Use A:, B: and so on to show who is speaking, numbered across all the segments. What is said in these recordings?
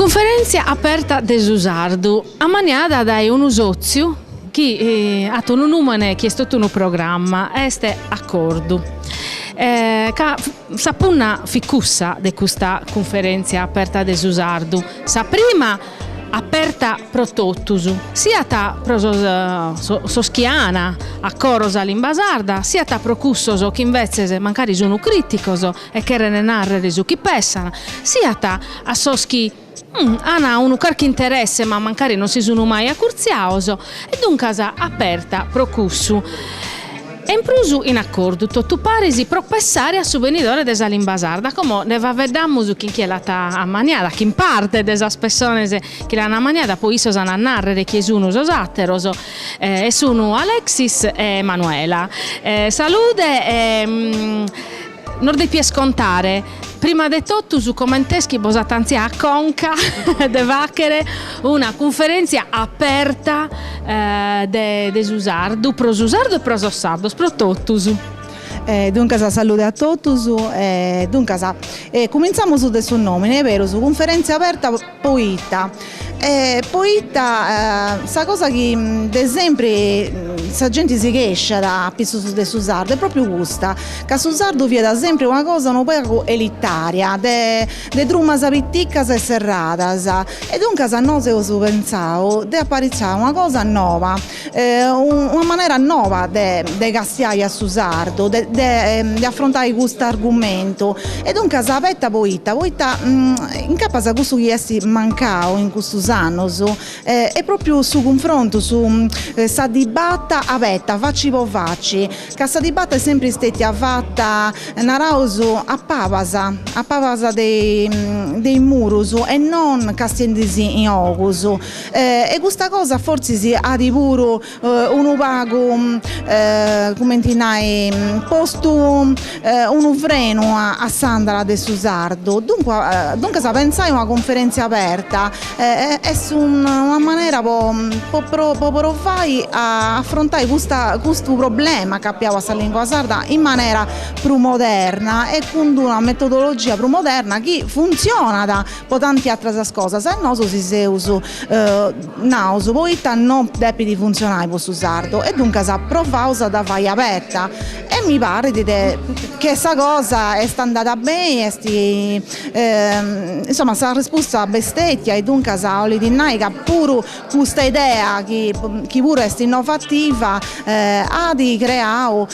A: Cunferèntzia aperta de su sardu, ammaniada dae unu sòtziu chi at unu nùmene chi est totu unu programma, est Acordu, chi Sa punna fit cussa de custa cunferèntzia aperta de su sardu, sa prima aperta pro totus, siat pro sos chi an a coro sa limba sarda, siat pro cussos chi imbetzes mancari sun crìticos e cheren nàrrere su chi pensant, siat a sos chi. An unu carchi interesse ma mancari non si sun mai acurtziados e duncas aperta pro cussu e in prus in acordu totu paris pro pessare a su benidore de sa limba sarda como nde faeddamos chin chie l'at ammaniada, chin parte de sas pessones chi l'an ammaniada poi issos an a narrer chie sun sos atteros e sun Alexis e Manuela. Salude e Nos depies contare, prima de totus, coment'est chi bos at antziau a conca de fàghere una cunferèntzia aperta de su sardu, pro su sardu e pro sos sardos, pro totus.
B: Duncas, salude a totus. Duncas, cumintzamus de su nòmine, berus, cunferèntzia aperta. Poita? E poita sa cosa chi de sempri sa genti si chesciat apitzus de su sardu est propriu custa, ca su sardu fiat sempri una cosa unu pagu elitaria de de drumas piticas e serradas e duncas nosu eus pentzau de aparitzai una cosa noba una manera noba de castiai a su sardu de afrontai custu argumentu e duncas abeta poita poita incapas cussu chi est mancau in custus annus est propriu su cunfrontu su sa dibata abeta faci po faci ca sa dibata est sempri stetia fata naraus a pabas a pabas de is murus e non castiendi si in ogus E custa cosa fortzis at puru unu pagu cumenti nai postu unu frenu a s'andala de su sardu duncas pentzai una cunferentzia aperta est una manera po po provai a afrontai custu problema capiau a sa lingua sarda in manera prus moderna e cun d'una metodologia prus moderna chi funtzionat po tanti àteras cosas e nosu si seus naus poita no depit funtzionai po su sardu e duncas provaus a dda fai aberta e mi parit ca sa cosa est andada beni insoma s'arrespusta b'est stetia e duncas 'olit nai ca puru custa idea chi puru est innovativa at creau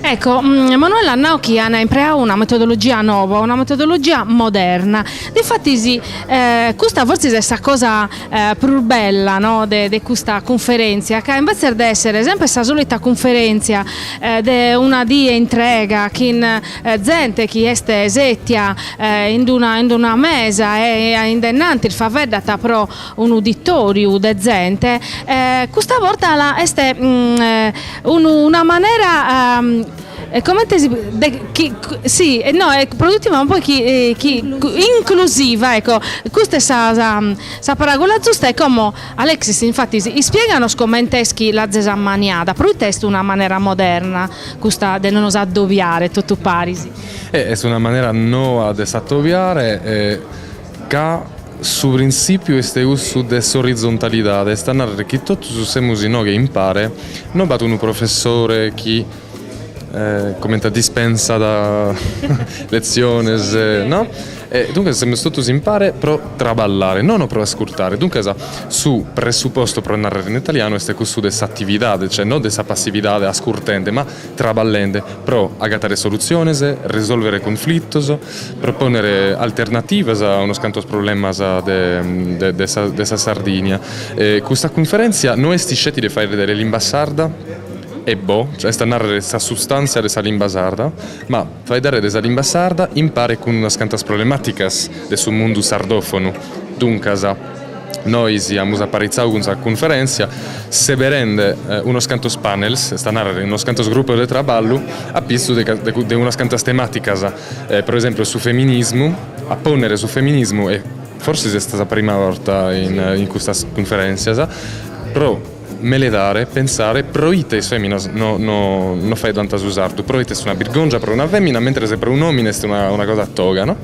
A: Ecco, Emanuela at nau chi an impreau una metodologia noba, una metodologia moderna. Difatis custa fortzis est sa cosa prus bella no de de custa cunferèntzia, ca imbetzes de èssere semper sa solita cunferèntzia de una die intrega chin zente chi est sètia in d'una in d'una mesa e in de innantis faeddat pro un'uditòriu de zente e custa borta est una manera comente si no produtiva poi inclusiva ecco custa est sa sa sa paràgula zusta e como Alexis infatis ispieganos comente est chi l'azes ammaniada proite est una manera moderna custa de nos addobiare totu paris. E est una
C: manera noa de s'atobiare e Ca su printzìpiu est cussu de s'orizontalidade, est a nàrrere chi totus semus inoghe impare, no b'at unu professore chi comente a dispensat letziones, no? E duncas semus totus impare pro traballare, nono pro ascurtare, duncas su pressupostu, pro nàrrere in italianu, est cussu de s'atividade, cioè no de sa passividade ascurtende, ma traballende pro agatare solutziones, risòlvere conflitos. Propònnere alternativas a unos cantos problemas de sa Sardìnnia. Custa cunferèntzia no est isceti de faeddare de limba sarda e bo, est a nàrrere sa sustàntzia de sa limba sarda, ma faeddare de sa limba sarda impare cun unas cantas problemàticas de su mundu sardòfonu. Duncas. Nois amus aparitzadu cun sa cunferèntzia seberende unos cantos panels, est a nàrrere unos cantos grupos de traballu, a pitzu de unas cantas temàticas, pro esemplu su feminismu, a pònnere su feminismu, e forsis est sa prima borta in custas cunferèntzias, pro meledare, pensare proite is fèminas no faeddant su sardu, proite est una birgòngia pro una fèmina, mentres pro un'òmine est una cosa toga no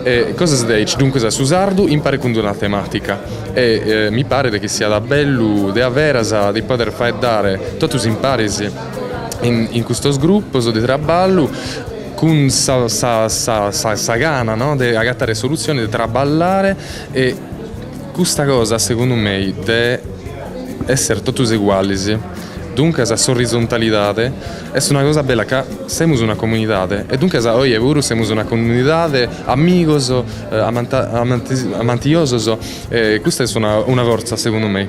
C: E cosas de aici, duncas su sardu impare cun d'una temàtica e mi paret chi siat bellu de a veras de pòdere faeddare totus imparis in custos grupos de traballu cun sa gana, no, de agatare solutziones, de traballare e custa cosa segundu mei de esser totus egualis, duncas s'orizontalidade est una cosa bella ca semus una comunidade e duncas oje puru semus una comunidade, amigos, amantiosos e custa est una fortza segundu mei.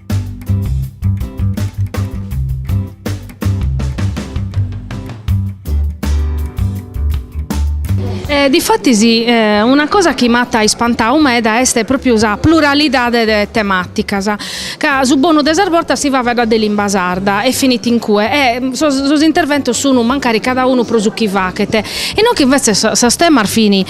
A: E difatis una cosa chi m'at ispantau meda est pròpriu sa pluralidade de temàticas, ca su bonu de sas bortas si faeddat de limba sarda e finit in cue e sos sos interventos sun mancari cada unu pro su chi faghet, inoghe invètzes sos temas fin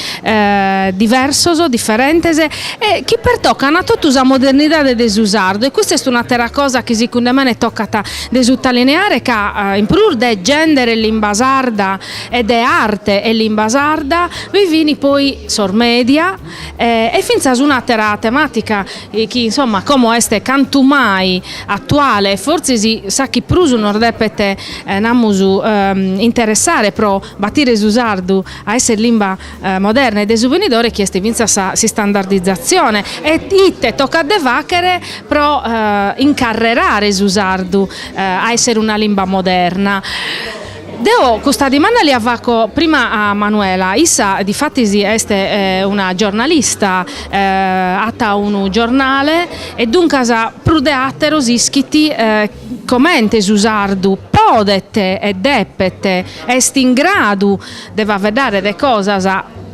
A: diversos, diferentes e chi pertocan totu sa modernidade de su sardu e custa est un'àtera cosa chi sicunde mene tocat de sutalineare ca in prus de gèndere e limba sarda e de arte e limba sarda bi fin poi sos media e fintzas un'àtera temàtica chi insomma como est cantu mai atuale e fortzis sa chi prus nos depet namus interessare pro batire su sardu a esser limba moderna e de su venidore chi est fintzas s'istandardizatzione e ite tocat de fàghere pro incarrerare su sardu a èssere una limba moderna. Deo custa dimanda lia faco prima a Manuela, issa difatis est una giornalista, at unu giornale e duncas prus de àteros ischit comente su sardu podet e depet, est in gradu de faeddare de cosas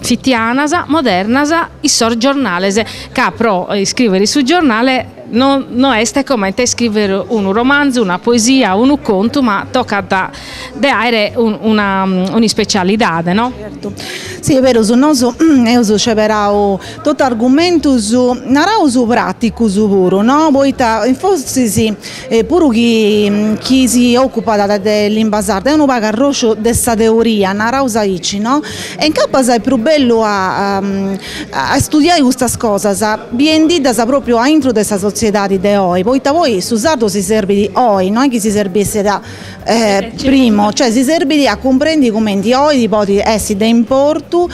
A: fitianas, modernas, in sos giornales, ca pro iscrìvere in su giornale no est comente iscrìvere unu romanzu, una poesia, unu contu, ma tocat de àere un'ispecialidade no. Zertu,
B: sì est berus, nosu eus sceberau totu argumentus naraus praticus puru no, poita forsis E puru chi si ocupat de limba sarda est unu pagu arrosciu de sa teoria, naraus aici no, e incapas est prus bellu a istudiai custas cosas biendiddas propriu a intro de sa sotziedadi de oi, poita poi su sardu si serbidi oi, no est chi si serbessit primu, cioè si serbidi a cumprendi cumenti oi podit essi de importu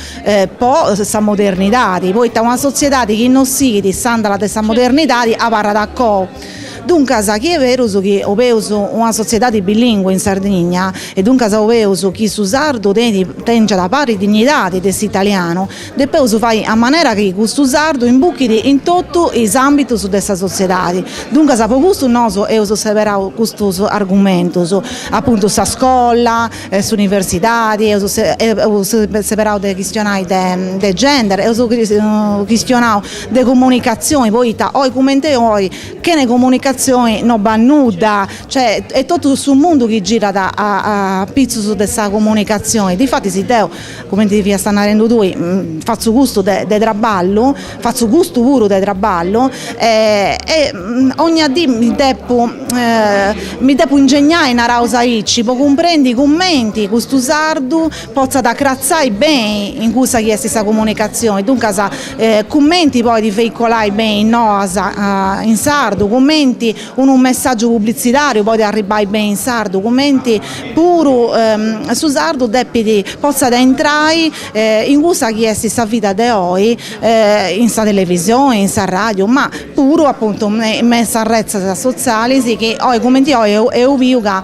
B: po sa modernidadi, poita una sotziedadi chi non sighit s'andala de sa modernidadi abarrat a coa Duncas, chi est berus chi obeus una sotziedadi bilingue in Sardigna e duncas obeus chi su sardu tèngiat paris dignidadi de s'italianu, depeus fai a manera chi custu sardu imbuchit in totu is àmbitus de sa sotziedadi. Duncas po custu nosu eus seberau custus argumentus, apuntu sa scola, s'universidadi, eus seberau de chistionai de gender, eus chistionau de comunicatzioni poita oi cumenti oi chene comunicatzioni no b'at nudda cioè est totu su mundu chi girat apitzus de sa comunicatzioni difatis deu cumenti fiast narendu tui fatzu custu de traballu fatzu custu puru de traballu e ogna dì mi depu mi depu ingegnai naraus aici po cumprendi cumenti custu sardu potzat acratzai beni in cussa chi est sa comunicatzioni, duncas cumenti podit veicolai beni is noas in sardu, cumenti unu messàgiu publitzidàriu podit arribbai beni in sardu, cumenti puru su sardu depit potzat intrai in cussa chi est sa vida de oi in sa televisioni, in s'arràdiu, ma puru apuntu me in sas retzes sotzialis chi oi cumenti oi deu biu ca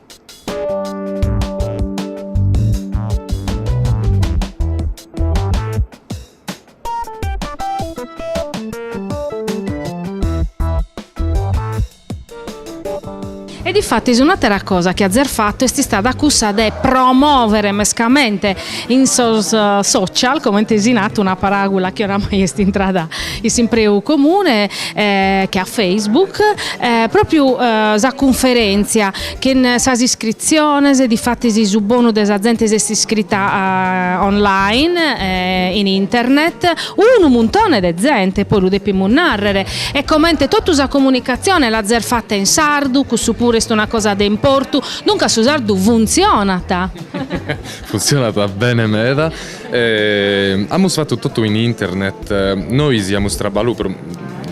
A: E difatis un'àtera cosa chi azes fatu est istada cussa de promòvere mescamente in sos social, comente as nadu, una paràgula chi oramai est intrada in s'impreu comune che a Facebook pròpiu sa cunferèntzia chin sas iscritziones, difatis su bonu de sa zente s'est iscrita online, in internet, unu muntone de zente poi lu depimus nàrrere e comente totu sa comunicatzione l'azes fata in sardu, cussu puru est una cosa de importu, duncas su sardu funtzionat!
C: Funtzionat bene meda E amus fatu totu in internet. Nois amus traballau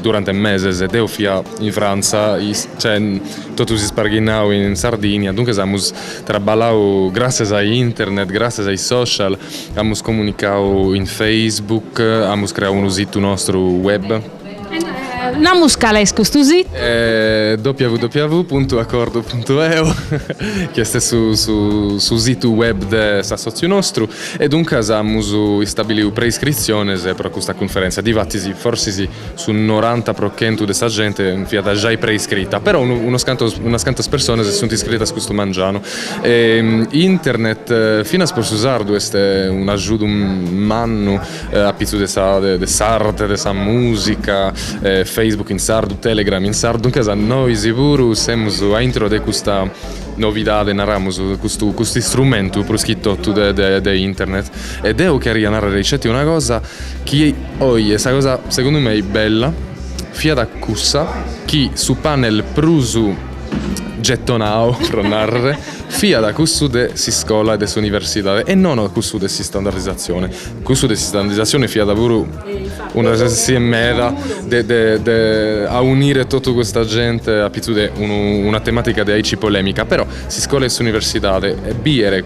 C: durante meses, deo fia in Frantza, cioè totus isparghinaus in Sardigna, duncas amus traballau gràtzias a internet, gràtzias a is social, amus comunicau in Facebook, amus creau unu situ nostru web.
A: Naramus cale est custu situ.
C: www.acordu.eu chi est su situ web de s'assòtziu nostru e duncas amus istabiliu preiscritziones pro custa cunferèntzia, difatis forsis su noranta pro chentu de sa gente fiat giai preiscrita, però unas cantas personas si sunt iscritas custu mangianu. Internet finas pro su sardu est un'agiudu mannu a pitzus de sa de s'arte de sa musica Facebook in sardu Telegram in sardu duncas nois puru semus a intro de custa novidade naramus custu custu istrumentu prus chi totu de de de internet e deu cheria narrer icetti una cosa chi oje sa cosa segundu mei bella fiat cussa chi su panel prus gettonau pro narrer fiat cussu de s'iscola e de s'universidade e non cussu de s'istandardizatzione Cussu de s'istandardizatzione fiat puru un'ocasione meda de de de aunire totu custa gente a pitzus de unu una tematica de aici polemica però s'iscola e s'universidade e biere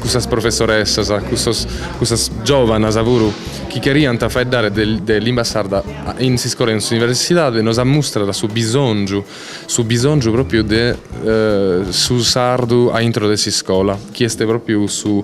C: cussas professoressas cussos cussas giovanas puru chi cheriant faeddare de de limba sarda in s'iscola e in s'universidade nos ammustrat su bisongiu su bisongiu propriu de su sardu a intro de s'iscola chi est propriu su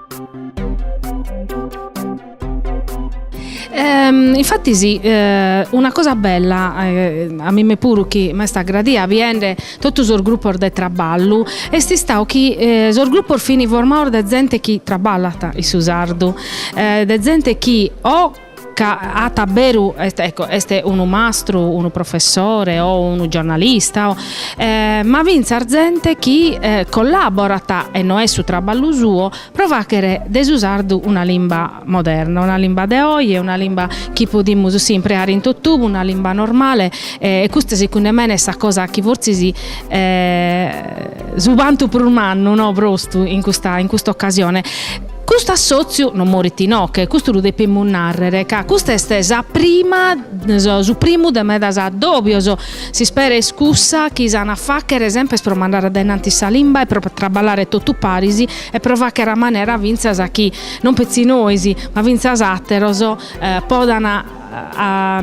A: Ehm, infatti sì, eh, una cosa bella, eh, a mime puru chi m'est agradia biende totu sos grupos de traballu, est istau chi eh, sos grupos fini formados de zente chi traballat in su sardu, eh, de zente chi o ca at a beru ecco est unu mastru, unu professore o unu giornalista o ma fintzas zente chi collaborat e no est su traballu suo pro faghere de su sardu una limba moderna, una limba de oje, una limba chi podimus si impreare in tottubu, una limba normale e custa segundu 'e mene est sa cosa chi fortzis s'ispantu prus mannu nostru in custa in custa occasione. Custu assòtziu non morit inoche, custu lu depimus nàrrere, ca custa est sa prima, su primu de medas addòbios. S'ispera est cussa chi s'an a fàghere semper pro mandare addainanti sa limba e pro traballare totu paris e pro fàghere a manera fintzas chi non petzi nois, ma fintzas àteros podant a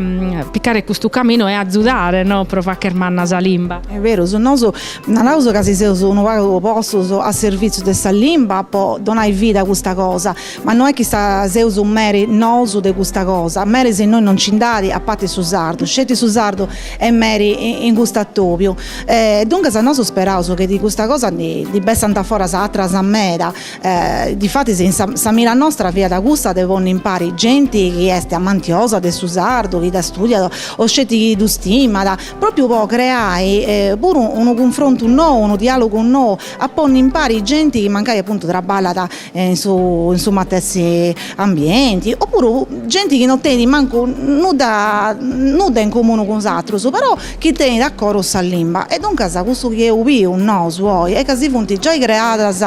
A: picare custu caminu e azudare no pro facher manna sa limba. Est beru, su
B: nosu naraus ca si seus unu pagu postus a servìtziu de sa limba po donai vida a custa cosa, ma no est chi sa seus meri nosu de custa cosa, meris innoi non nci nd'at a pati su sardu, sceti su sardu est meri in custu atobiu. E duncas nosu speraus chi de custa cosa ndi bessant foras àteras meda E difatis in sa sa mira nostra fiat cussa de ponni impari genti chi est amantiosa de su sardu, chi dda studiat o sceti chi ddu stimat, pròpiu po creai puru unu cunfrontu nou, unu diàlogu nou, a ponni impari genti chi mancai apuntu traballat in su in su matessi ambienti opuru genti chi non tenit mancu nudda nudda in comunu cun is atrus però chi tenit a coro sa limba e duncas cussu chi eus biu nosu oi est ca si funt giai creadas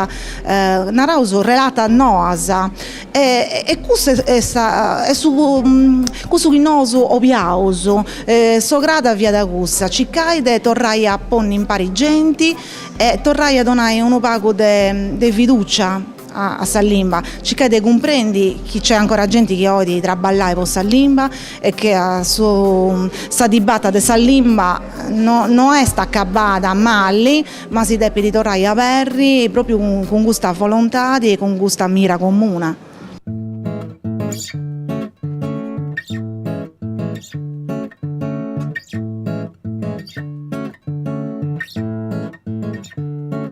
B: naraus relatas noas e cussa est sa est su cussu chi nosu boliaus s'ograda fiat cussa circai de torrai a ponni impari genti e torrai a donai unu pagu de fidùcia a sa limba, circai de cumprendi chi nc'est ancora genti chi olit traballai po sa limba e chi su sa dibata de sa limba no est acabada mali ma si depit torrai aberri propriu cun custa volontadi e cun custa mira comuna.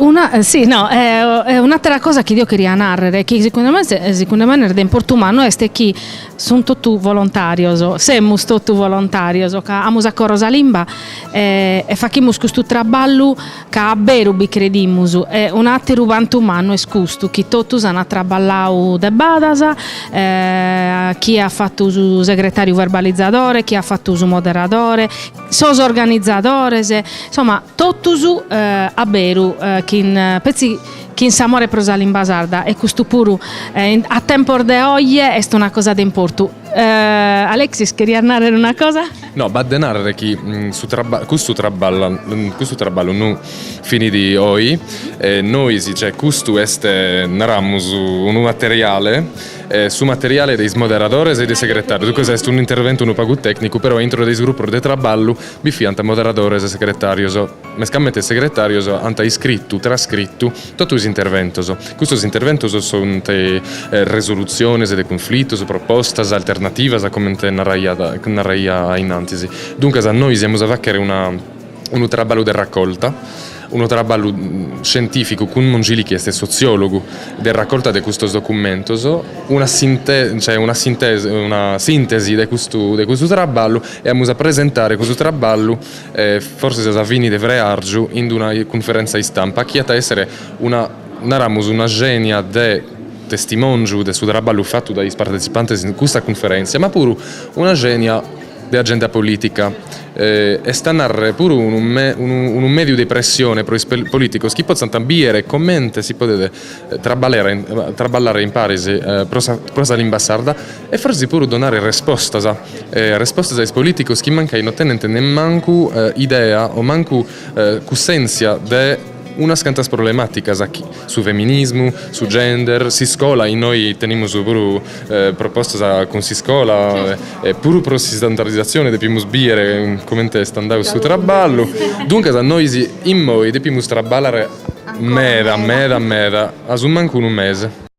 A: Una sì no un'atera cosa chi deo cheria narrer chi segundu me segundu me est de importu mannu est chi sun totu volontarios, semus totu volontarios ca amus a coro sa limba e fachimus custu traballu Ca a beru bi credimus, e un'àteru puntu mannu est custu, chi totus ant traballau de badas, chie at fatu su segretàriu verbalizadore, chie at fatu su moderadore, sos organizadores, insoma, totus a beru chin petzi chin s'amore pro sa limba sarda e custu puru a tempos de oje est una cosa de importu. Alexis cherias narrer una cosa? No b'at de
C: narrer chi custu traba custu traballa custu traballu no finit oi e nois cioè custu est naramus unu materiale e su materiale de is moderadores e de is segretarios duncas est un'interventu unu pagu tecnicu però intro de is gruppos de traballu bi fiant moderadores e segretarios. Mescamente is segretàrios ant iscritu, trascritu, totu is interventos. Custos interventos sunt resolutziones de cunflitos, propostas, alternativas, comente naraiat, naraiat ainnantis. Duncas nois amus a fàghere una, unu traballu de racolta, unu traballu scientìficu cun Mongili chi est sotziòlogu, de racolta de custos documentos, una sinte, cioè una sintesi, una sìntesi de custu, de custu traballu e amus a presentare custu traballu e forsis a sa fini de freargiu in una cunferentza istampa chi at a èssere una, naramus, una xenia de testimòngiu de su traballu fatu dae is partetzipantes in custa cunferèntzia, ma puru una xenia de agenda polìtica, est a nàrrere puru unu mèdiu de pressione pro is polìticos chi potzant bìdere comente si podet traballare imparis pro sa limba sarda E forsis puru donare respostas, respostas a is polìticos chi mancai no tenent nemmancu idea o mancu cussèntzia de unas cantas problemàticas, su feminismu, su gender, s'iscola, innoi tenimus puru propostas cun s'iscola e puru pro s'istandarizatzione depimus bìdere comente est andadu su traballu. Duncas nois immoi depimus traballare meda meda meda, a su mancu unu mese.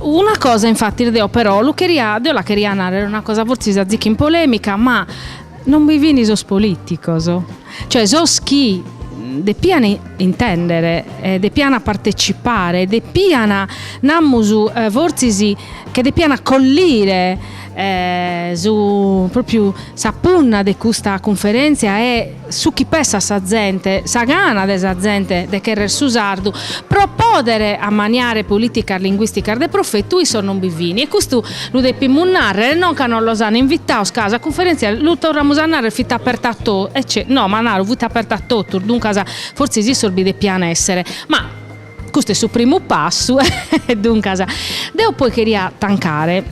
A: Una cosa infatti deo però lu ch, deo la cheria nàrrere una cosa fortzis azicu in polèmica, ma non bi fini sos polìticos, cioè sos chi depian intèndere e depian partecipare, depian, namus fortzis che depian acollire Su pròpiu sa punna de custa cunferèntzia est su chi pessat sa zente, sa gana de sa zente de cherrer su sardu pro pòdere ammaniare polìticas linguìsticas de profetu issos non bi fin e custu lu depimus nàrrere non ca non los an invitaos ca sa cunferèntzia, lu torramus a nàrrere, fit aperta a totu, no ma naru, fit aperta a totus, duncas fortzis issos bi depian èssere, ma Custu est su primu passu e duncas deo poi cheria tancare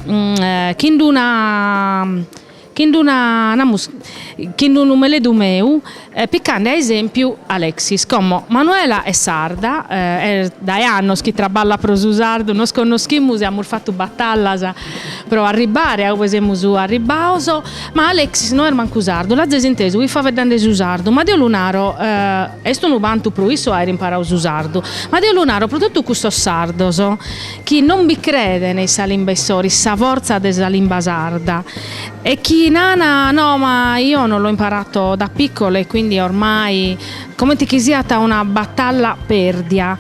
A: chin d'una chin d'una namus chin d'unu meledu meu picande a esempiu Alexis, como Manuela est sarda est dae annos chi traballat pro su sardu, nos connoschimus e amus fatu batallas pro arribbare a ue semus arribbaos Ma Alexis no est mancu sardu, l'azes intesu faeddande su sardu, ma deo lu naro, est unu bantu pro issu aer imparau su sardu, ma deo lu naro pro totu custos sardos chi non bi creden in sa limba issoro, in sa fortza de sa limba sarda e chi nan, no ma io non l'ho imparato da piccolo e quindi ormai, comente chi siat una batalla perdia.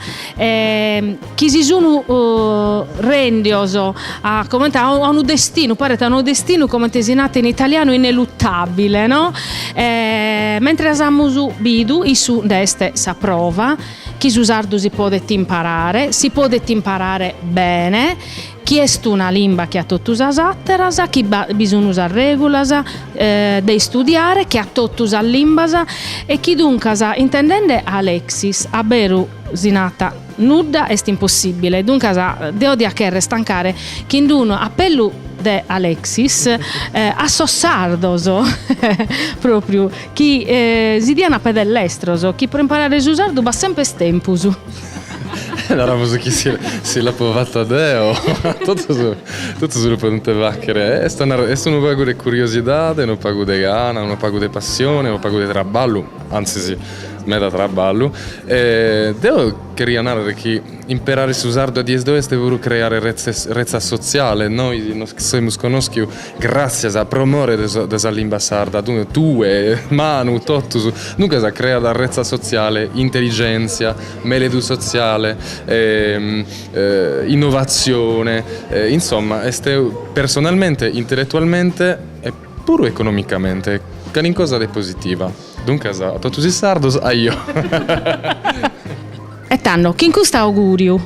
A: chi si sun rendios comente a unu destinu, paret unu destinu comente si nat in italianu ineluttabile no, mentres amus bidu issu nd'est sa prova chi su sardu si podet imparare, si podet imparare bene, chi est una limba che a totu sas ateras, chi bi sun sas regulas de istudiare che a totu sas limbas e chi duncas intendende Alexis a beru si nat Nudda est impossìbile, duncas deo diat chèrrere tancare chin unu apellu de Alexis a sos sardos pròpriu chi si dian a pedes lestros, chi pro imparare su sardu b'at semper
C: tempus. Naramus chi si l'apo fata deo, totus lu podent fàghere. Est unu pagu de curiosidade, unu pagu de gana, unu pagu de passione, unu pagu de traballu, antzis Meda traballu. E deo cheria nàrrere chi imperare su sardu a dies de oe est puru creare retzas sotziales. Nois nos semus conòschiu gràtzias a pro more de sa limba sarda, tue, Manu, totus. Duncas creat retza sotziale, intelligèntzia, mèledu sotziale, innovatzione. Insoma est personalmente, intelletualmente e Puru economicamente calincosa de positiva. Duncas a totus is sardos
A: aio. E tando, chin custu auguriu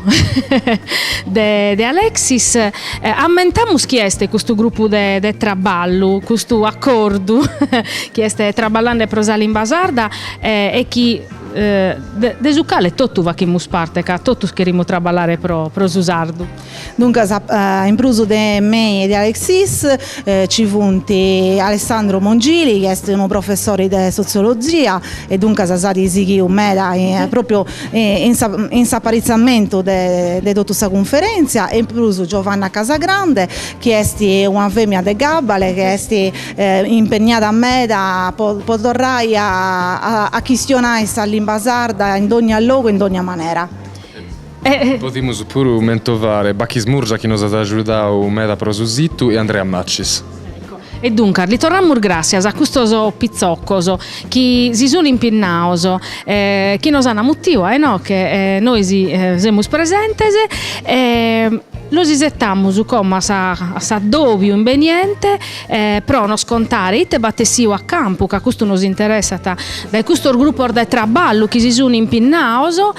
A: de Alexis ammentamus chi est custu gruppu de traballu, custu accordu chi est traballande pro sa limba sarda e chi de su cale totu faghimus parte ca totus cherimus traballare pro su sardu. Duncas a
B: in prus de mei e de Alexis nci funt Alessandro Mongili chi est unu professori de sotziologia e duncas s'at sighiu meda pròpriu in sa in s'aparitzamentu de de totu sa cunferèntzia e in prus Giovanna Casagrande chi est una femina de gabbale chi est impegnada meda po po torrai a a chistionai sa limba sarda in dogna logu e in dogna manera.
C: Podimus puru mentovare Bachis Murgia chi nos at agiudau meda pro su situ e Andrea Maccis. E
A: duncas li torramus gràssias a custos pitzocos chi si sun impinnados e chi nos an mutiu a inoche e nois semus presentes e los isetamus como a s'addòbiu imbeniente pro nos contare ite b'at essiu a campu ca custu nos interessat dae custos grupos de traballu chi si sun impinnados